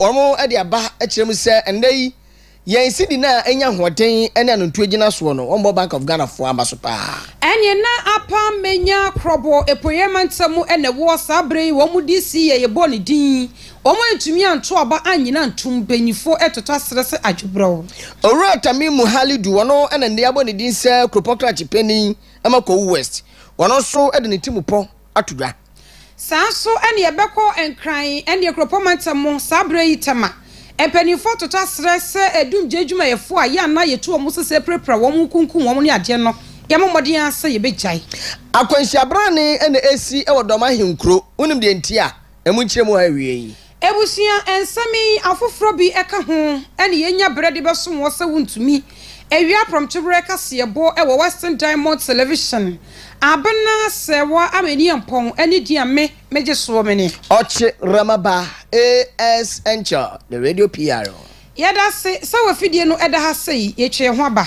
Wɔde aba kyerɛ mu sɛ ɛnnɛ yi yɛn cedi no a anya ahoɔden ne anontuo gyina soɔ no wɔmmɔ Bank of Ghana foɔ aba so paa. Ɛne na Apam Menya Krobo Apueɛ Mantam mu na ɛwoɔ saa berɛ yi wɔn de si yɛ yɛbɔɔ ne din wɔn antumi anto aba annyina ntom mpanyinfoɔ ɛtoto aserɛ sɛ adwebrɛw. Owura Tamimu Halidu wɔn na nnɛ yɛabɔ ne din sɛ Kuropɔn Krakye Panin ɛma Kowu West wɔn nso de ne timupɔ ato dwa. Saa nso ne yɛbɛkɔ Nkran ne Akuropɔn mantam mu saa berɛ yi tɛm a mpaninfoɔ toto aserɛ sɛ dumgye adwumayɛfoɔ a yɛn na yɛtu wɔn sesɛ pirapira wɔn nkunkum wɔn ne adeɛ no yɛmmɔ mmɔden ara sɛ yɛbɛgyae. Akwanhyia berane na ɛresi wɔ Dɔm ahenkuro, wonim deɛ nti a? Ɛmu nkyerɛmu a awiei yi. Abusua nsɛm yi afoforɔ bi ka ho na yɛnya berɛ de bɛsom wo sɛ wontumi awie aprɔmtoberɛ kaseɛbɔ wɔ Western Diamond Television Abena sɛ wo a m'ani yɛ mpɔn ne din a me megye soɔ me ne. Ɔkye Rama ba AS Enkyɛ the radio PRO. Yɛda ase sɛ w'afidie no da ha sɛi, yɛtwa yɛn ho aba.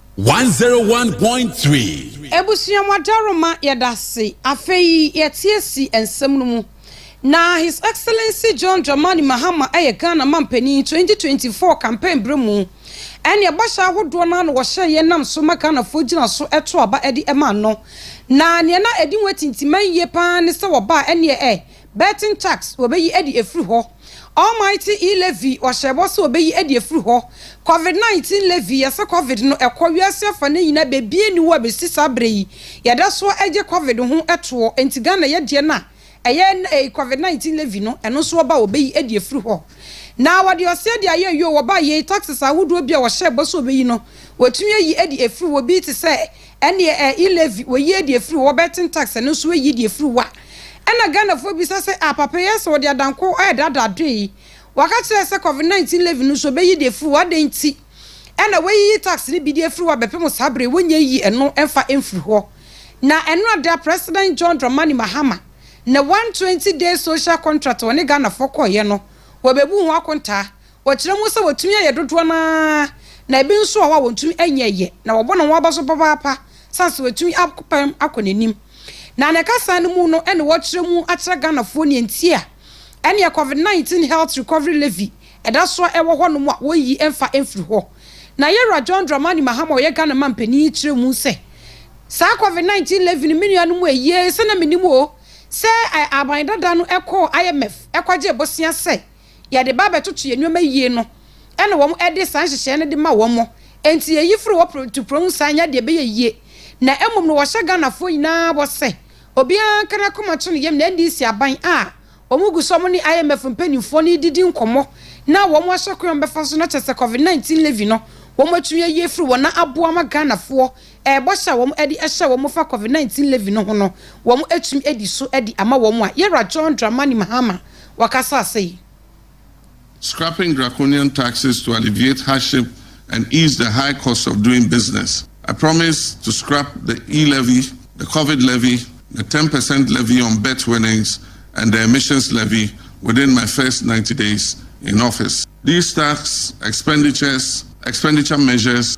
One zero one point three. Ebusua mu adaroma yɛdase afei yɛteɛ si nsɛm no mu na His Excellency John Dramani Mahama yɛ Ghana manpanin twenty twenty four campaign berɛ mu ɛneɛ bɔhyɛ ahodoɔ no ara na wɔhyɛɛ yɛn nam so ma Ghanafoɔ gyina so to aba de maa no na neɛ na ɛdi ho atintiman yie paa ara ne sɛ wɔbaa ɛneɛ ɛ Burton Tax, wɔbɛyi adi afiri hɔ. Almighty E. Levy, wɔhyɛɛ bɔ sɛ wɔbɛyi adi afiri hɔ. Covid 19 Levy, Yɛsɛ Covid no ɛkɔ wiase afa no nyinaa bɛbia nni hɔ a bɛsi saa berɛ yi. Yɛda so ara gye Covid ho toɔ, enti Ghana yɛ deɛ no a, ɛyɛ na ɛyi Covid 19 Levy no, ɛno nso wɔba a wɔbɛyi adi afiri hɔ. Na wɔde ɔseɛ de ayɛ yio, wɔba a yei taxes ahodoɔ bi a wɔhyɛɛ bɔ sɛ wɔbɛyi no, wɔtumi ayi adi afiri hɔ, bi te sɛ, Ɛnneɛ ɛ i Levi, wɔyi ɛ deɛ firi wo, wɔbɛten tax, ɛno nso ɛyi deɛ firi wa. Ɛna Ghanafoɔ bisa sɛ ah papa yi ayɛ sɛ wɔde adanko ɛ daadaa adoɛ yi. Wɔaka kyerɛ ɛ sɛ covid 19 Levi no nso wɔbɛyi deɛ firi wo, adɛn nti ɛna wɔayiyi tax no bi deɛ afiri wa bɛpem saa berɛ yi, wɔnnya nyi ɛno mfa mfiri hɔ. Na ɛno ada President John Dramani Mahama ne 120 days social contract wɔne Ghanafoɔ kɔeɛ no, wɔbɛbu ho akontaa, Wɔkyerɛ mu sɛ wɔtumi ayɛ dodoɔ no ara, na ebi nso wɔ hɔ a wɔntumi nyɛ yɛ, na wɔbɔ ne ho aba so papaapa sane sɛ wɔatumi apam akɔ n'anim. Na ne kasaa no mu no ne wɔkyerɛ mu akyerɛ Ghanafoɔ neɛ nti a ɛneɛ Covid 19 Health Recovery Levy ɛda so a ɛwɔ hɔ nom a wɔnyi mfa mfiri hɔ. Na Yɛwura John Dramani Mahama a ɔyɛ Ghana man panin yi kyerɛ mu sɛ, Saa Covid 19 Levy no me nuanom ayie sɛ na menim o sɛ aban dada no kɔɔ IMF kɔgyee bosea sɛ yɛde ba bɛtoto yɛn nneɛma yie no na wɔde saa nhyehyɛeɛ no de ma wɔn. Enti ɛyi firi hɔ prɛtuprɛw saa nyɛ deɛ ɛbɛyɛ yie. Na mmom no wɔhyɛ Ghanafoɔ nyinaa bɔ sɛ obiara nka n'akoma nto ne yam na NDC aban a wɔn gu so wɔn ne IMF mpanimfoɔ no redidi nkɔmmɔ na wɔn ahyɛ kwan a wɔbɛfa so no kyerɛ sɛ Covid 19 levy no wɔn atumi ayi afiri hɔ na aboa ama Ghanafoɔ Ɛbɔ sɛ wɔn de hyɛ wɔn fa Covid nineteen levy no ho no wɔn atumi adi so de ama wɔn a Yɛwura John Dramani Mahama wɔkasaa sei. Scrapping draconian taxes to alleviate hardship and ease the high cost of doing business, I promise to scrap the e-levy, the Covid levy, the ten percent levy on bet winnings and the emissions levy within my first ninety days in office. These tax expenditures, expenditure measures,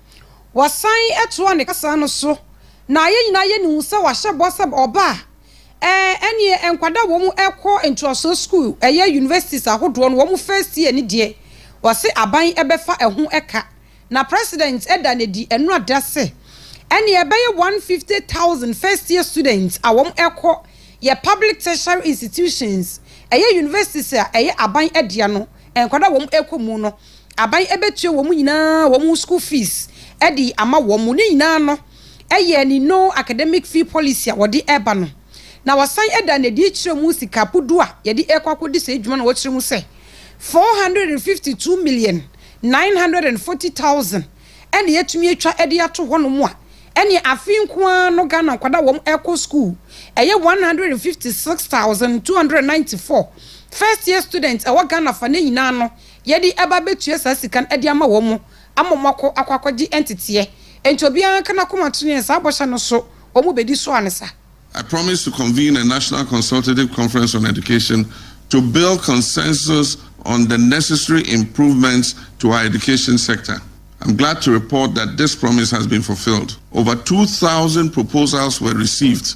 Wɔsan toaa ne kasa no so, na yɛn nyinaa yɛ no hu sɛ wahyɛ bɔ sɛ ɔba a, ɛɛ, ɛnneɛ nkwadaa a wɔn rekɔ ntoasoɔ sukuu, ɛyɛ universities ahodoɔ no, wɔn first year no deɛ, ɔse aban bɛfa ɛho ka. Na President da no adi, ɛno ada sɛ, ɛnneɛ ɛbɛyɛ 150,000 first year students a wɔn rekɔ yɛ public tertiary institutions, ɛyɛ universities a ɛyɛ aban dea no, nkwadaa a wɔn rekɔ mu no. aban bɛtua wɔn nyinaa wɔn school fees de ama wɔn. Ne nyinaa no yɛ ne no academic fee policy a wɔde reba no. Na wɔsan da no adi kyerɛ mu sika po du a yɛde rekɔ akɔdi saa adwuma no a wɔkyerɛ mu sɛ 452,940,000 na yɛatumi atwa de ato hɔnom a, ɛneɛ afe nko ara no Ghana nkwadaa a wɔrekɔ school ɛyɛ 156,294 first year students ɛwɔ Ghana fa no nyinaa no Yɛde ɛba abɛtua saa sika no de ama wɔn ama wɔn akɔ akɔ akɔgye nteteɛ. Enti obiara nka n'akoma to neɛ saa bɔhyɛ no so wɔn bɛdi so ansa. I promise to convene a National Consultative Conference on Education to build consensus on the necessary improvements to our education sector. I'm glad to report that this promise has been fulfilled. Over two thousand proposals were received.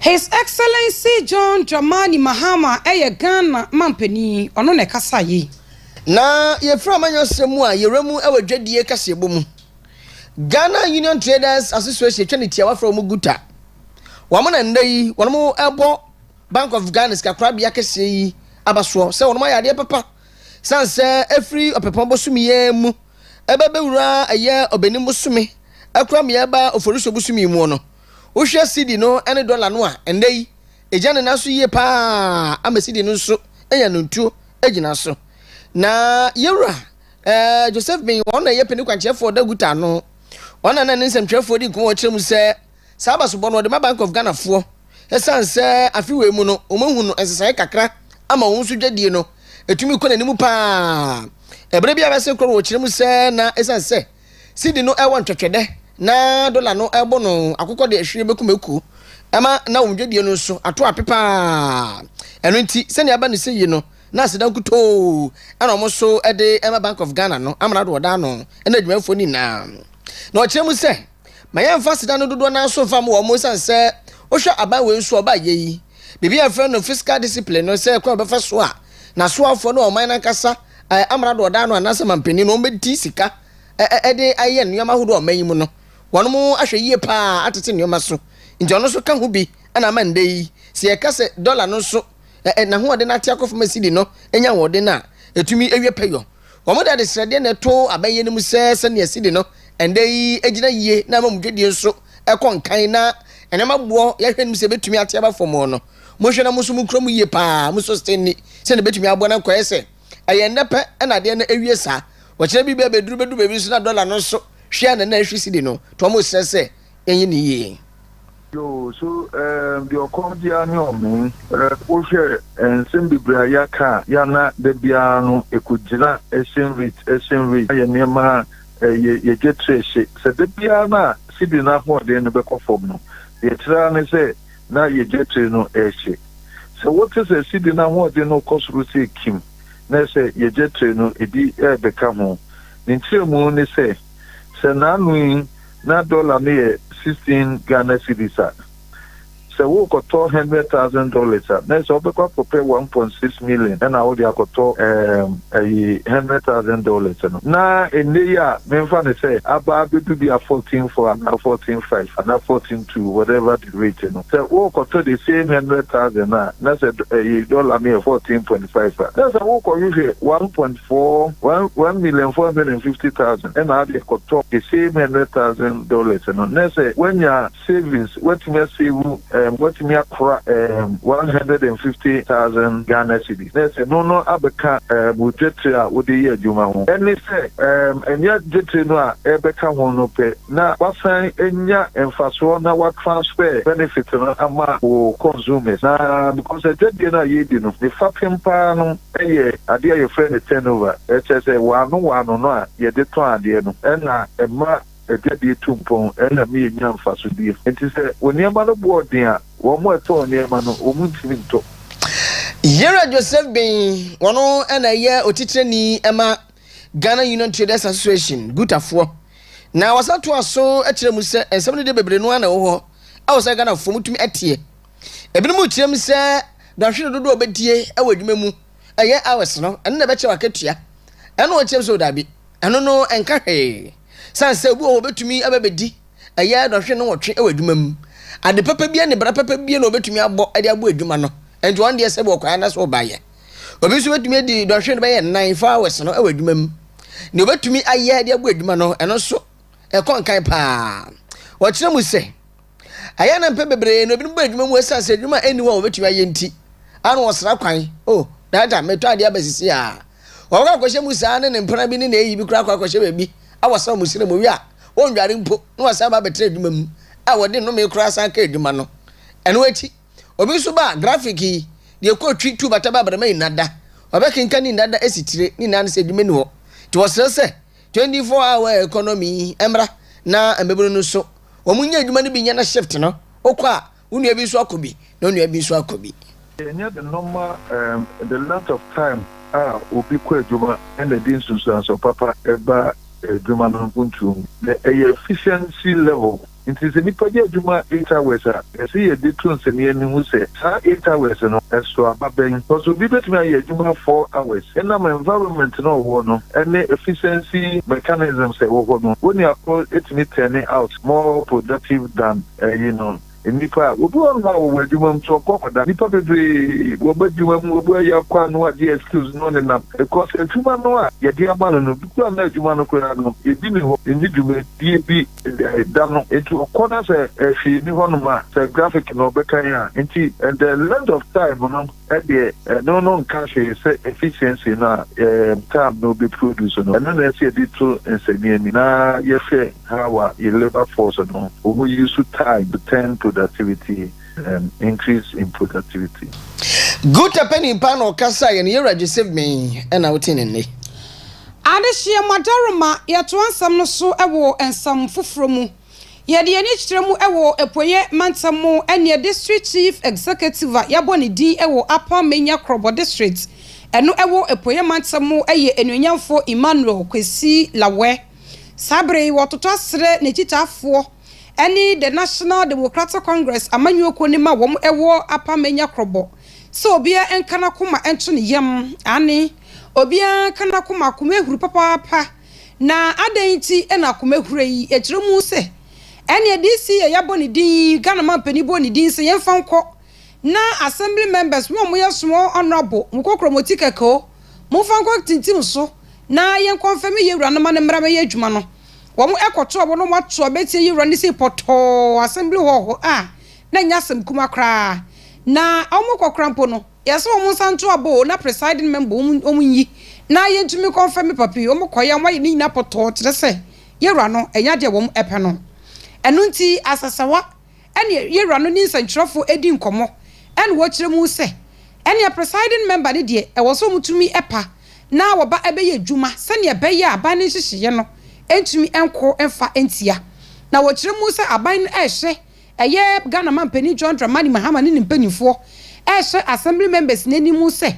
His Excellency John Dramani Mahama yɛ Ghana manpanin, ɔno na ɛkasaeɛ yi. Na yɛfiri amanyɔsɛm mu a yɛwura mu wɔ dwadie kaseɛbɔ mu. Ghana Union Traders Association twa ne tiawa frɛ wɔn Guta. Wɔn na nnɛ yi wɔn rebɔ Bank of Ghana sikakorabea kɛseɛ yi aba soɔ sɛ wɔn ayɛ adeɛ papa sane sɛ ɛfiri ɔpɛpɔn bosome yi ara mu ɛbɛ bɛwura ɛyɛ ɔbɛnim bosome ɛkora mea ɛba oforisuo bosome yi muo no wohwɛ CD no ɛne dɔla no a ɛnɛ yi ɛgya ne nan so yie paa ama CD no nso anya no ntuo agyina so na yɛwura ɛɛ Joseph Bing wɔn na ɛyɛ pɛni kwankyerɛfoɔ da guta no wɔn na na ne nsɛmtwerɛfoɔ di nkɔmɔ ɔkyerɛ mu sɛ Saa abasobɔ no wɔde ma Bank of Ghana foɔ ɛsiane sɛ afe wei mu no wɔn ahu no nsesaeɛ kakra ama wɔn nso dwadie no ɛtumi kɔ n'anim paa ɛberɛ bi a bɛse korɔ no wɔkyerɛ mu sɛ na ɛsiane sɛ sidi no ɛwɔ ntwɛtwɛdɛ na dola no ɛbɔ no akokɔ de ɛhwere bɛku mako ɛma na wɔn dwadie no nso ato ape paa ɛno nti sɛnea aba ne sɛ yi no na aseda nkutoo ɛna wɔn nso ɛde ɛma Bank of Ghana no amena do wɔda ano ɛna adwumayɛfoɔ no nyinaa na wɔkyerɛ mu sɛ Ma yɛmfa aseda no dodoɔ no ara so mfa ma wɔn ɛsiane sɛ wohwɛ aban wei nso a ɔbaa yɛ yi, biribi a yɛfrɛ no fiscal discipline no sɛ kwan a wɔbɛfa so a n'asoafoɔ no a ɔman no ankasa amrado a ɔdaa no anaasɛ manpanin no wɔbɛdi sika de ayɛ nneɛma ahodoɔ a ɔman yi mu no wɔn ahwɛ yie pa ara atete nneɛma so nti ɔno nso ka ho bi na ama nnɛ yi sɛ yɛka sɛ dɔla no nso n'ahoɔden no ate akɔ fam a sidi no nya ahoɔden a ɛtumi awie pɛyɔ Wɔde adesrɛdeɛ na ɛto abɛn yɛn anim sɛ sɛdeɛ sidi no ɛnnɛ yi gyina yie na ama mo dwadie nso kɔ nkan na nneɛma boɔ yɛhwɛ anim sɛ ɛbɛtumi ate aba fam no, monhwɛ na mo nso mokura mu yie pa ara, monso sete nni sɛdeɛ ɛbɛtumi aboa na nkɔyɛ sɛ ɛyɛ nnɛ pɛ na adeɛ no awie saa. Wɔkyerɛ biribi a bɛduru bɛduru baabi nso na dɔla no nso hwe a na na ɛhwe sidi no, nti wɔsrɛ sɛ yɛnyɛ no yie. Yoo so ɛɛm deɛ ɔkɔm de a ne ɔmee. Rep wohwɛ nsɛm bebree a yɛaka a yɛ a na da biara no ɛkɔgyina exchange rate exchange rate ayɛ nneɛma a ɛyɛ yɛdwa tiri ɛhye sɛ da biara no a cedi no ahoɔden no bɛkɔ fam no deɛ ɛkyerɛ ara ne sɛ na yɛdwa tiri no ɛhye sɛ wote sɛ cedi no ahoɔden no rekɔ soro sɛ kim na ɛsɛ yɛdwa tiri no ɛbi ɛrebɛka ho ne nkyerɛmu ne sɛ Sɛ naano yi na dɔla no yɛ sixteen Ghana cedis a, sɛ worekɔtɔ hundred thousand dollars a, na ɛsɛ wobɛkɔ akɔpɛ one point six million ɛna wode akɔtɔ ɛɛm ɛyi hundred thousand dollars no. Na ɛnnɛ yi a memfa no sɛ aba abɛdu bi a fourteen four anaa fourteen five anaa fourteen two whatever the rate no, sɛ worekɔtɔ the same hundred thousand no a, na sɛ ɛyi dɔla no yɛ fourteen point five a, na sɛ worekɔhwehwɛ one point. foɔ one one million four hundred and fifty thousand ɛna ade akɔtɔ the same hundred thousand dollars no na sɛ wanya savings watumi asevu ɛɛm watumi akora ɛɛm one hundred and fifty thousand Ghana cedis na sɛ ɛno no abɛka ɛɛm wo dwetire a wode yɛ adwuma ho ɛne sɛ ɛɛm ɛnyɛ dwetire no a ɛbɛka ho no pɛ na wasan anya mfasoɔ na wa transfer benefit no ama wo consumers na because adwadie no a yɛredi no ne fapem paa no yɛ adeɛ a yɛfrɛ no turnover, kyerɛ sɛ waano waano no a yɛde tɔn adeɛ no na ɛma adwadie tu mpɔn na ɛma yɛnya mfasodie. Enti sɛ nneɛma no boɔ den a, wɔn a ɛtɔn nneɛma no wɔn ntumi ntɔ. Yera Joseph Beng, ɔno na ɛyɛ otitrani ma Ghana Union Traders Association, Gutafoɔ, na ɔsan toa so kyerɛ mu sɛ nsɛm no deɛ bebree no ara na ɛwɔ hɔ a ɛwɔ sɛ Ghanafoɔ motumi teɛ. Ebinom rekyerɛ mu sɛ dɔnhwere dodoɔ a wɔbɛdie wɔ adwuma mu ɛyɛ hours no, ɛno na ɛbɛkyɛ w'akatua. Ɛna wɔkyerɛ mu sɛ daabi, ɛno no ɛnka hwee. Sane sɛ obi wɔ hɔ wɔbɛtumi aba bɛdi ɛyɛ dɔnhwere no nwɔtwe wɔ adwuma mu. Ade papa bie ne bra papa bie na wɔbɛtumi abɔ de aboa adwuma no, ɛnti wɔn deɛ sɛ bi wɔkɔɛ anaasɛ wɔbaeɛ. Obi nso bɛtumi adi dɔnhwere no bɛyɛ nnan, four hours no wɔ adwuma mu. Deɛ wɔbɛtumi ayɛ de aboa adwuma no, ɛno nso ɛkɔ nkan paa. Wɔkyerɛ mu sɛ Ɛyɛ a na mpɛn bebree no ebinom bɔ adwuma mu esiane sɛ adwuma a enni hɔ a wɔbetumi ayɛ nti. Ano wɔsra kwan. Oh, Dada, metɔ ade aba sisi a. Wɔbɛkɔ akɔhyɛ mu saa ne ne mpena bi ne n'ayi bi koraa akɔ akɔhyɛ baabi a wɔsra wɔn srɛ mu wie a, wɔnnware mpo na wɔasan aba abɛtra adwuma mu a wɔde nnome koraa san ka adwuma no. Ɛno akyi, obi nso ba a, grafik yi, deɛ ɛkɔ twi, tu, bata, ba, abrama, nnada. Wɔbɛkenkan ne nnada asi tire, ne nyinaa ne sɛ adwuma nni hɔ. Nti wɔsrɛ sɛ Twenty four hour economy yi mmra na mmabunu no nso wɔn nyɛ adwuma no bi nyɛ na shift no wokɔ a wo nua bi nso akɔ bi na onua bi nso akɔ bi. Ɛnyɛ the normal um the length of time a obi kɔ adwuma na ɛde nsunsuansoɔ papa ba adwuma no mpuntuo mu na ɛyɛ efficiency level. Enti sɛ nnipa yɛ adwuma interwebs a, ɛsɛ yɛde to nsɛnnennen mu sɛ saa interwebs no sow aba bɛn. Hɔ nso, obi betumi ayɛ adwuma four hours ɛnam environment no a ɔwɔ no ne efficiency mechanisms a ɛwɔ hɔ no. Onua Paul tumi turned out more productive than eyinom nnipa a wobi wɔ hɔ a wɔwɔ adwuma mu nso ɔkɔ kɔda. Nnipa bebree wɔba adwuma mu, obi ayɛ akwa no agye excuse no nenam because adwuma no a yɛde ama no no, dodoɔ a na adwuma no koraa no ebi nni hɔ, enni dwumadie bi. Ɛɛ da no nti ɔkɔ na sɛ hwee ni hɔ nom a sɛ graphic na ɔbɛkan a nti the length of time no deɛ ɛno no nka hwee sɛ efficiency no a ɛɛm time na ɔbɛ produce no ɛno na ɛsɛ yɛde to nsɛniani na yɛhwɛ how a yɛ labour force no ɔmɔ use time to turn productivity ɛɛm increase in productivity. Guter pɛ nipa na ɔkasaeɛ no yɛwura gyesɛ me ɛna wote ne nne. Adehyeɛ mmɔdɔrema Yɛtoa nsɛm no so wɔ nsɛm foforɔ mu. Yɛde yɛn ani kyerɛ mu wɔ Apueɛ Mantam mu neɛ District Chief Executive a yɛabɔ ne din wɔ Upper Manya Krobo District ɛno ɛwɔ Apueɛ Mantam mu yɛ Anuonyamfoɔ Emmanuel Kwesi Lawɛ. Saa berɛ yi wɔtotɔ asrɛ n'akyitaafoɔ ne The National Democratic Congress amanyɔkuo no ma wɔn wɔ Upper Manya Krobo Sɛ obiara nka n'akoma nto ne yam, aane, obiara nka n'akoma akomahuru papaapa, na adɛn nti na akomahura yi kyerɛ mu sɛ ɛneɛ DC yɛ yɛabɔ ne din, Ghana mampanin bɔ ne din sɛ yɛmfa nkɔ, na Assembly members mo a moyɛ small honourable mokɔ kura mo ticket o, momfa nkɔ tintim so na yɛn kɔnfɛme yɛwura no ma no mmra mɛyɛ adwuma no. Wɔn kɔto abo na wɔato abɛtia yɛwura no sei pɔtɔɔ, Assembly hɔ hɔ a na ɛnyɛ asɛm kumaa koraa na wɔn kɔ kora mpo no yɛsɛ wɔn nsa nto aba o na presiding member wɔn wɔn nyi na yɛntumi kɔnfɛ me papi wɔn kɔ yɛ wɔn ayɛ ne nyinaa pɔtɔɔ kyerɛ sɛ yɛwura no ɛnyɛ adeɛ wɔn ɛpɛ no ɛno nti asɛsɛwa ɛne yɛwura no ne nsɛntwerɛfoɔ ɛdi nkɔmɔ ɛne wɔkyerɛ mu sɛ ɛne presiding member ne deɛ ɛwɔ sɛ wɔn tumi ɛpa na wɔba ɛbɛyɛ adwuma sɛdeɛ ɛbɛyɛ a aban ne nhyehyɛeɛ no ɛntumi ɛnko ɛnfa ɛntia na wɔkyerɛ mu sɛ aban no ɛrehwɛ Ɛyɛ Ghana Manpanin John Dramani Mahama ne ne mpaninfoɔ rehyɛ Assembly members no anim sɛ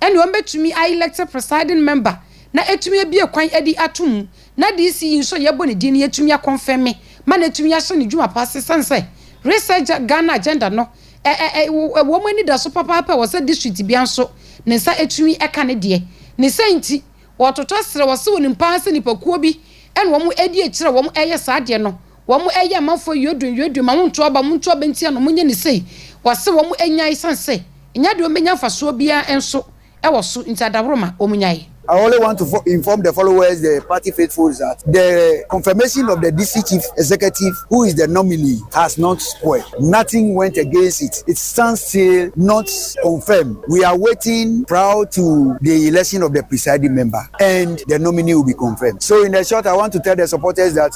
ɛneɛ wɔn bɛtumi a elected presiding member na atumi abue kwan adi ato mu na DC yi nso a yɛbɔ ne din no yɛtumi a confirme ma no atumi ahyɛ ne dwuma pa ase ɛsiane sɛ Reset Ghana agenda no ɛwɔ wɔn anidaso papaapa a ɛwɔ sɛ district bia nso ne nsa atumi ɛka ne deɛ ne sɛ nti wɔtotɔ serɛ wɔse wɔnim paa sɛ nipa kuo bi ɛna wɔn ɛdi akyire a wɔn ɛyɛ saa deɛ no. Wɔn ɛyɛ amanfoɔ yuadun yuadun ma wontu aba wɔn ntu aba ntia no wɔn nyɛ no sei wɔse wɔn ɛnyae ɛsiane sɛ ɛnyɛ adeɛ wɔn bɛnya mfasoɔ biara ɛnso ɛwɔ so nti adaworoma wɔn nyae. I only want to inform the followers, the party faithfuls that the confirmation of the District Chief Executive who is the nominee has not spoiled. Nothing went against it. It stands still not confirmed. We are waiting prior to the election of the presiding member and the nominee will be confirmed. So in the short, I want to tell the supporters that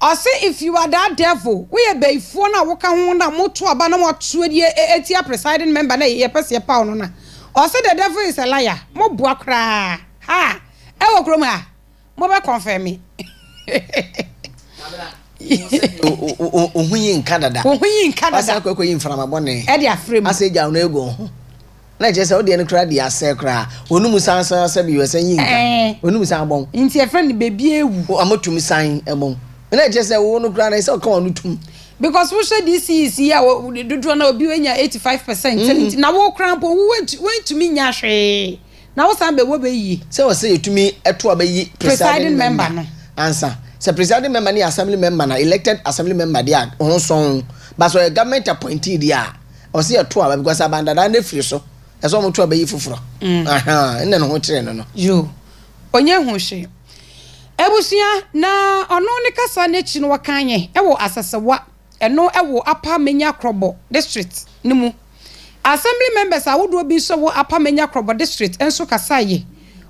Ɔse if you are that devil, woyɛ bayifoɔ no a woka ho na mo to aba na mo ato adie atia presiding member no a yɛ pɛ sɛ yɛ paw no no a, ɔse the devil is a liar, mo boa koraa, haa, ɛwɔ kurom ha, mo bɛ confirme. Wo ho yi nka dada. Wasan akɔ akɔyi mframa bɔne. Ɛde afrɛ mu. Asɛ gyaw no agu wo ho. Na ɛkyerɛ sɛ wo deɛ no koraa deɛ asɛe koraa. Wɔn mu san san asɛ bi wɔsan yi nka. Ɛɛ. Wɔn mu san abɔn. Nti ɛfrɛ no bebie awu. O ama tum san ɛbɔn. Na ɛkyerɛ sɛ wo no koraa no ɛsɛ ɔka wɔn no tum. Because wo hwɛ this is yi a dodoɔ na obi enya eighty five percent mm. nti na wo koraa mpo wo wentumi nya hwee na wo san bɛ wɔ bɛ yie. Sɛ wɔsɛ yɛtumi ɛto a bɛyi presiding member no. Ansa sɛ presiding member ne assembly member na elected assembly member deɛ a ho sɔn ba sɛ ɔyɛ government appointee deɛ a. Ɔse yɛto aba because aban dadaa no afiri so ɛsɛ ɔmo to aba yi foforɔ ahaa ɛna ne ho kyerɛ no no. Yoo ɔnyɛ ho hwee abusua na ɔno ne kasa no akyi no wɔkan yɛ ɛwɔ Asasawa ɛno ɛwɔ Upper Menya Krobo district no mu Assembly members ahodoɔ bi nso ɛwɔ Upper Menya Krobo district nso kasaeɛ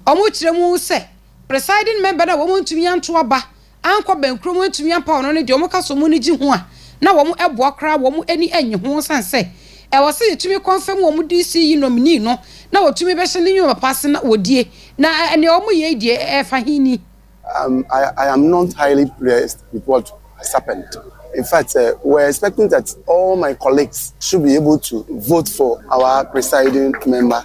ɔmo kyerɛ mu sɛ presiding member no a wɔn ntumi anto aba ankɔ bɛnkuro mu antumi ampaw no no deɛ wɔn ka sɛ wɔn ani gye ho a na wɔn boa koraa wɔn ani nnye ho ɛsiane sɛ ɛwɔ sɛ yɛtumi kɔnfɛm wɔn DC yi nominee no na wɔtumi bɛhyɛ ne nnwuma papa ase na wɔdie na nea wɔn yɛ yi deɛ ɛfa he ni? Um, I, I am not highly pleased with what has happened. In fact, uh, we're expecting that all my colleagues should be able to vote for our presiding member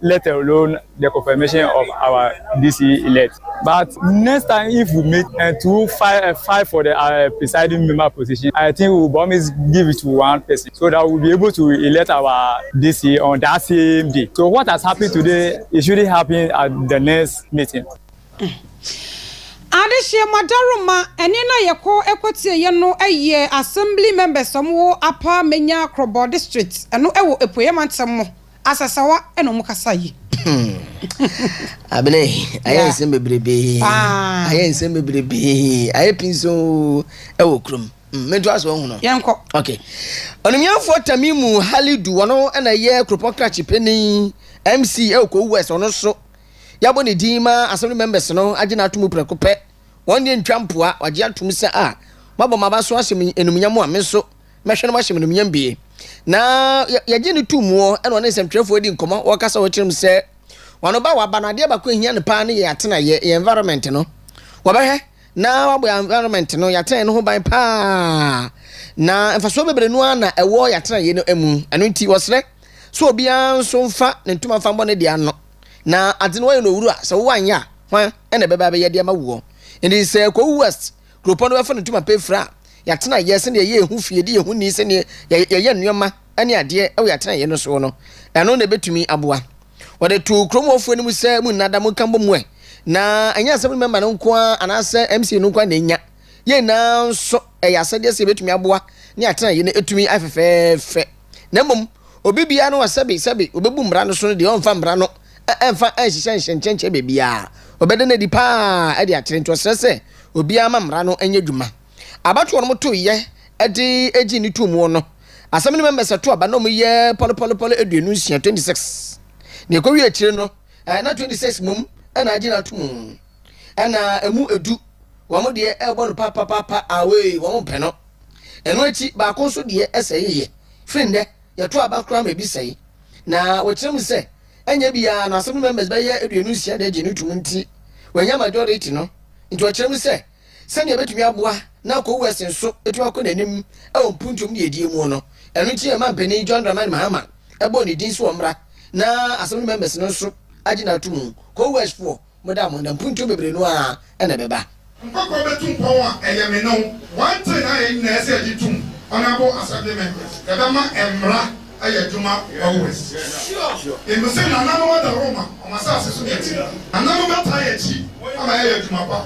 let alone the confirmation of our DC elect but next time if we meet and to fight, uh, fight for the uh, presiding member position I think we will always give it to one person so that we will be able to elect our DC on that same day so what has happened today it shouldn't happen at the next meeting. Mm. Adehyeɛ Madaroma ɛne na yɛkɔ ɛkɔtieɛ no ɛyɛ assembly members ɔmo wɔ Apa Menya Krɔbɔ district ɛno ɛwɔ Apueɛ mantam mu. Asasawa ɛna ɔmo kasa yi. Abena yi, ayɛ nsɛm bebrebe. Ayɛ nsɛm bebrebe. Ayɛ pinso ɛwɔ kurom. Mm, Mento aso ɔhono. Yɛnkɔ. Okay. Ɔnumyanfoɔ Tamimu Halidu, ɔno ɛna yɛ kuropɔn krakye panin MC ɛwɔ Kowu West, ɔno so. Yɛabɔ ne din ma assembly members no agye n'ato mu prɛko pɛ. Wɔn deɛ ntwa mpoa, wagye atom sɛ a, moabɔ m'aba so ahyɛ me enumnyam a, me nso. Mɛhwɛ na mahyɛ me animuonyam bie. Na yɛgye no tum wɔ ɛna ɔne nsɛmtwerɛfoɔ adi nkɔmmɔ wɔkasa wɔkyerɛ mu sɛ wɔn ɔba waba no adeɛ baako ɛhia no paa ne yɛ atenaeɛ yɛ environment no wɔbɛhwɛ na wabɔ yɛ environment no yɛatenaeɛ no ho ban paa na mfasoɔ bebree no ara na ɛwɔ yɛ atenaeɛ no mu ɛno nti wɔsrɛ so obiara nso mfa ne ntoma mfa mbɔ ne deɛ ano na adze no wɔyɛ no owura sɛ wowɔ anyɛ a hwan ɛna ɛbɛba bɛyɛ deɛ ma woɔ nti sɛ kɔwu west Kuropɔn no bɛfa no ntom apɛ afiri a yɛatena yɛ, sɛdeɛ yɛyɛ yɛn ho fie, de yɛn ho nni sɛdeɛ yɛyɛ nneɛma ne adeɛ wɔ yɛn atenaeɛ no soɔ no, ɛno na ɛbɛtumi aboa. Wɔde too kurom hɔfoɔ no mu sɛ, Monna da, monka mmɔ mu ɛ. Na ɛnyɛ asɛm no mɛma no nko ara anaasɛ MCA no nko ara na ɛnya. Yɛn nyinaa nso, ɛyɛ asɛdeɛ sɛ yɛbɛtumi aboa ne atenaeɛ no atumi ayɛ fɛfɛɛfɛ. na mmom obi biara no a sɛbe sɛbe obebu mmara no so no deɛ ɔmfa mmara no mfa nhyehyɛ nhyɛnkyɛnkyɛn baabiara. Ɔbɛda no adi paa de akyerɛ. Nti ɔsrɛ sɛ obiara mma mmara no nyɛ adwuma. Abatoɔ a wɔtoeɛ de gyee no toom no, Assembly members to aba na wɔyɛ pɔlepɔlepɔle aduonu nsia, 26. Na ɛkɔwie akyire no, na 26 mmom na agye no atom. Ɛna ɛmu edu, wɔn deɛ ɛrebɔ no papapaapa away, wɔn mpɛ no. Ɛno akyi, baako nso deɛ sɛee yɛ. Firi nnɛ, yɛto aba koraa ma ebi sɛe. Na wɔkyerɛ mu sɛ, ɛnyɛ bi ara na asɛm no members bɛyɛ aduonu nsia na agye no tom nti, wɔannya majority no. Nti wɔkyerɛ mu sɛ, sɛnea ɛbɛtumi aboa na Akor West nso atumi akɔ n'anim wɔ mpuntuom ne adie mu no, ɛno nti ɛmaa mpanin John Dramani Mahama bɔɔ ne din sɛ ɔmmra na asɛm no members no nso agye no atomu. Kor West foɔ. Mo da mo nna mpuntuo bebree no ara na ɛbɛba. Nkɔkorɔ bɛtu mpɔn a ɛyɛ me ne wo wanten na yɛn nyinaa asi agye tom Honourable Assembly Members yɛbɛma mmra ayɛ adwuma wɔ West Yɛnim sɛ nananom adaworo ma wɔn asase so nti nananom bɛtaa yɛn akyi ama yɛayɛ adwuma pa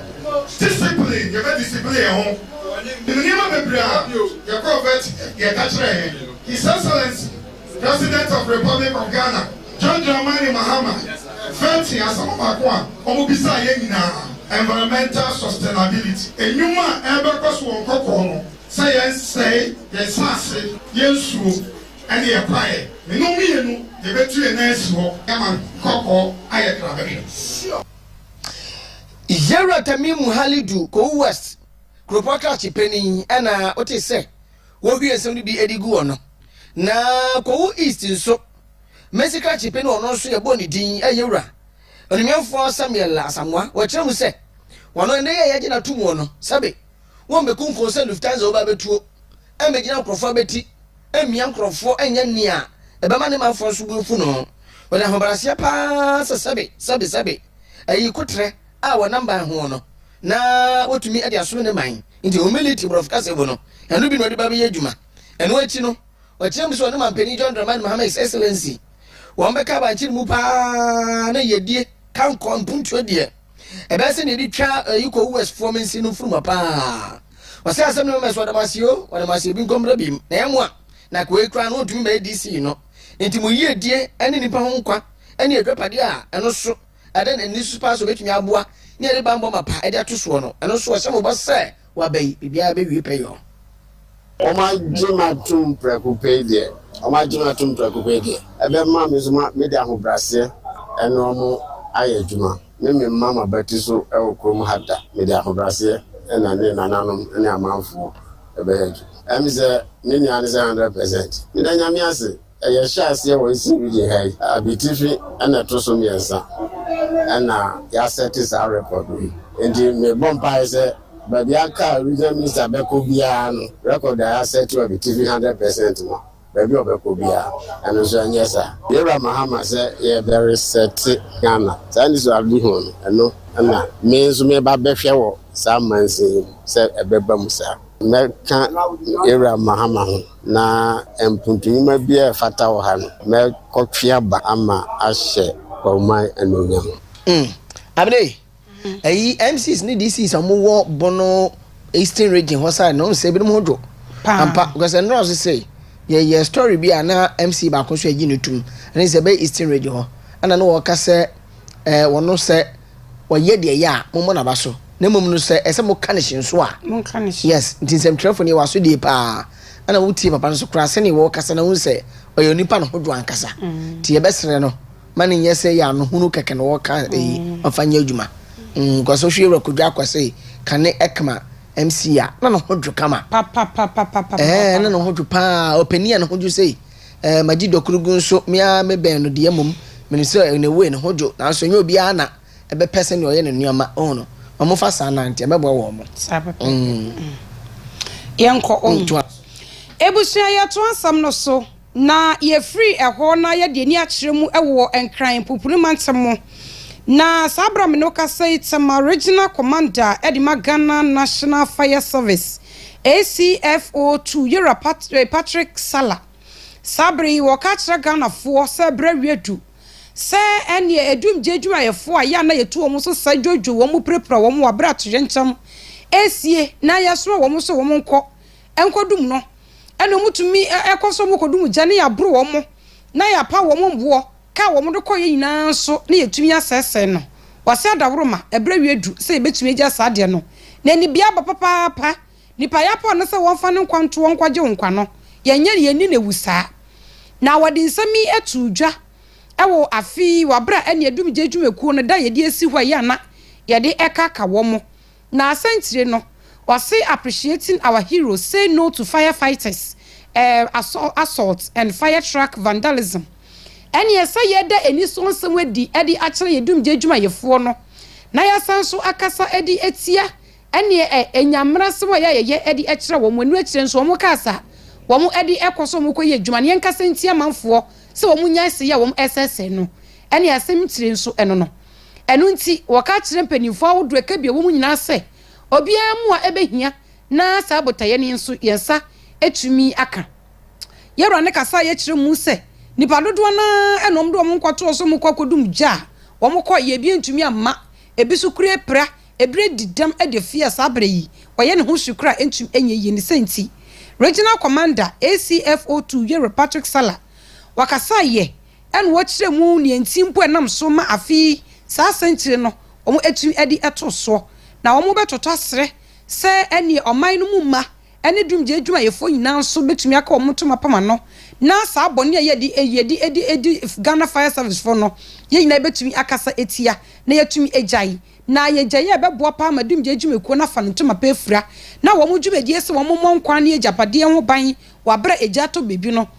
Discipline yɛbɛ discipline yɛn ho Nim nneɛma bebree a yɛkɔɔ vet yɛka kyerɛɛ yɛn His Excellency President of Republic of Ghana John Dramani Mahama frɛ tee asɛm baako a ɔmo bisaa yɛn nyinaa, Environmental Sustainability. Nnwuma a ɛrebɛkɔ so wɔ nkɔkɔɔ no sɛ yɛn sɛe yɛn nsaase, yɛn nsuo, ɛne yɛn kwaeɛ. Mene wo mmienu yɛbɛtu yɛn nan asi hɔ ma nkɔkɔɔ ayɛ kra bɛhwɛ. Yɛwura Tamimu Halidu Kowu West kuropɔn krakye panin ɛna wotee sɛ. Wohwie nsɛm no bi de gu hɔ no. Na Kowu East nso, Mercy Krakyepe ne ɔno nso yɛbɔɔ ne din, ɛyɛ wura. Onimuamfoɔ Samuel Asamoah, wɔkyerɛ mu sɛ, wɔno ɛnnɛ yi a yɛagye no ato muo no, sɛbe wɔmmɛkunkum sɛ Lufthansa ɔba abɛtuo, ɛmmɛgyina nkorɔfoɔ abɛti, ɛmmia nkorɔfoɔ ɛnyɛ nea ɛbɛma ne manfoɔ nso bo afu no. Wɔde ahobrɛaseɛ pa ara sɛ sɛbe, sɛbe, sɛbe, ɛyi koterɛ. a wɔnam ban ho no na wotumi de asom ne man nti, humility borɔfo kasa mu no, ɛno bi na ɔde ba bɛyɛ adwuma. Ɛno akyi no, ɔkyerɛ mu sɛ ɔne Manpanin John Dramani Mahama, His Excellency, wɔbɛka abankye mu pa ara na yɛdie ka nkɔ mpuntuo deɛ ɛbɛyɛ sɛ na yɛde twa ayi kɔ US foɔ mensi no mfuruma pa ara. Ɔsɛ asɛm no mɛmɛ so ɔdam aseɛ o, ɔdam aseɛ bi nkɔ mmra bi na yɛmmoa na akowei koraa no ɔntumi mmɛyɛ DC no nti mo yiedie ne nipa ho nkwa ne adwapadeɛ a ɛno so Ɛdɛn na nniso paa so betumi aboa ne yɛde bammɔ mapa de ato soɔ no? Ɛno nso, ɔhyɛ mo bɔ sɛ, Wɔ aba yi, biribiara bɛwie pɛyɔɔ. Wɔagye me atom prɛko pɛ yi deɛ, wɔagye me atom prɛko pɛ yi deɛ, ɛbɛma me nso mede ahobrɛaseɛ ne wɔn ayɛ adwuma. Meremma m'abati so wɔ kurom ha da. Mede ahobrɛaseɛ na ne nananom ne amanfoɔ bɛyɛ adwuma. Ɛyɛ me sɛ me nua no sɛ hundred percent. Meda Nyame ase! Yɛhyɛɛ aseɛ wɔ Eastern Region ha yi, Abitifi na ɛto so mmiɛnsa na yɛasɛte saa record wei. Enti mebɔ mpaeɛ sɛ baabi a anka Regional Minister bɛkɔ biara no, record a yɛasɛte wɔ Abitifi hundred percent no, baabi a ɔbɛkɔ biara ɛno nso ɛnyɛ saa. Yɛwura Mahama sɛ yɛbɛresɛte Ghana saa anisoadeɛ ho no, ɛno na me nso mereba abɛhwɛ wɔ saa mansin yi mu sɛ ɛbɛba mu saa. Mɛka Ewura Mahama ho, na mpuntunwuma biara a ɛfata wɔ ha no, mɛkɔtwe aba ama ahyɛ Kwaruman anuonyam. Mm, Amine, ɛyi MCs ne DCs a wɔwɔ Bono Eastern Region hɔ side no, ɔnsɛ ebinom ho dwo. Paa. Ampa, because ɛnora ɔse sɛ, yɛyɛ story bi a na MC baako nso agye no tum, ɛne sɛ ɛbɛyɛ Eastern Region hɔ, ɛna na wɔka sɛ, ɛɛ, wɔno sɛ ɔyɛ deɛ ɛyɛ a, mommɔ n'aba so, na mmom no sɛ ɛsɛ sɛ moka no hye nso a, monka no hye. Yes, nti nsɛmtwerɛfoɔ no yɛ w'asodie pa ara, ɛna wotie papa no so koraa sɛdeɛ wɔrekasa na wohu sɛ ɔyɛ onipa ne ho dwo ankasa. Nti yɛbɛsrɛ no ma no nyɛ sɛ ɛyɛ anohunu kɛkɛ na ɔreka eyi ma fa nyɛ adwuma. Mm, because wohwɛ Yɛwura Kojo Akwasei, kane ɛkma MC a, na ne ho dwo kama. Papapapapapapapa. Ɛɛ, na ne ho dwo pa ara, ɔpanin a ne ho dwo sei. Ɛɛ, magye Dokurugu nso, me ara mebɛn no deɛ mmom menim sɛ in a way ne ho dwo nanso ɛnyɛ obiara na ɛbɛpɛ sɛdeɛ ɔyɛ ne nneɛma, wohu no, wɔmfa saa nante, ɛbɛboa wɔn. Saa pɛpɛɛpɛ. Mm. Yɛnkɔ wɔn. Toa so. Abusua, yɛtoa asɛm no so, na yɛfiri ɛhɔ na yɛde ani akyerɛ mu wɔ Nkran mpumpuni mantam mu. Na saa berɛ a me ne wo kasa yi, Tema Regional Commander de ma Ghana National Fire Service, ACFO tuu Yera Patrick Salah. Saa bere yi wɔka kyerɛ Ghanafoɔ sɛ berɛ readu sɛ ɛneɛ adumgyeɛ adwumayɛfoɔ a yɛ a na yɛtu wɔn so sa dwodwo wɔn pirapira wɔn wɔ aberɛ a toyɛnkyɛm resie na yɛsoma wɔn sɛ wɔn nkɔ nkɔdum no ɛna wɔtumi kɔ so kɔdum gya na yɛaboro wɔn na yɛapa wɔn mmoɔ Ka a wɔde kɔeɛ nyinaa nso na yɛtumi asɛesɛe no. Wɔase adaworoma, ɛberɛ wie adu sɛ yɛbɛtumi agya saa adeɛ no. Na anibea aba papaapa. Nipa yɛ apɔ no sɛ wɔmfa ne nkwa ntoɔ nkɔgye wo nkwa no, yɛnyɛ no yɛnni no awu saa. Na wɔde nsɛm yi too dwa wɔ afe yi wɔ aberɛ a ɛne adumgya adwumakuo no da a yɛde asi hɔ a ɛyɛ a na yɛde ɛka ka wɔn. N'asɛntire no, ɔse Appreciating our heroes say no to fire fighters, air assault and fire truck vandalism. Ɛne ɛsɛ yɛda anisoɔ nsɛm adi de akyerɛ yɛn dumgye adwumayɛfoɔ no na yɛasan nso akasa de atia ɛne ɛnya mmarasɛm a ɛyɛ a yɛyɛ de kyerɛ wɔn. Ɛno akyire nso wɔn kaa sa wɔn de kɔ so wɔn kɔ yɛ adwuma no yɛnkasa ntia amanfoɔ sɛ wɔn nyae sɛe a wɔn ɛsɛsɛe no ɛne asɛm tire nso ɛno no. Ɛno nti, wɔka kyerɛ mpanyimfo ahodoɔ a ɛka bi a ɛwɔ mu nyinaa sɛ, obiara mmoa ɛbɛhia na saa botaeɛ no nso yɛn nsa atumi aka. Yɛn Wura no kasaeɛ kyerɛ mu sɛ, Nnipa dodoɔ no ara na wɔde wɔn nkwa too so a wɔkɔ akɔdum gya a wɔkɔɔ yɛ bi antumi amma, ebi nso kura apira, ebi adi dɛm de afi a saa berɛ yi ɔyɛ ne ho hye koraa a ɛntumi ɛnyɛ yie. Ne saa nti, Regional Commander, ACFO Two, Yɛn Wura Patrick Sala, wɔkasaeɛ Ɛna wɔkyerɛ mu nea nti mpo a ɛnam so ma afe yi saa asɛnkyerɛ no wɔatumi de to soɔ. Na wɔbɛtoto aserɛ sɛ ɛneɛ ɔman no mu mma ne dwumgye adwumayɛfoɔ nyinaa nso bɛtumi aka wɔn ntoma apam ano na saa bɔne a yɛde yɛde yɛde Ghana Fire Service foɔ no yɛn nyinaa yɛbɛtumi akasa atia na yɛatumi agyae. Na yɛgyaeɛ a ɛbɛboa paa ma dwumgye adwumakuo no afa no ntoma pa afira na wɔn dwumadie sɛ wɔmmɔ nkwa ne agyapadeɛ ho ban wɔ aberɛ a egya atɔ baabi no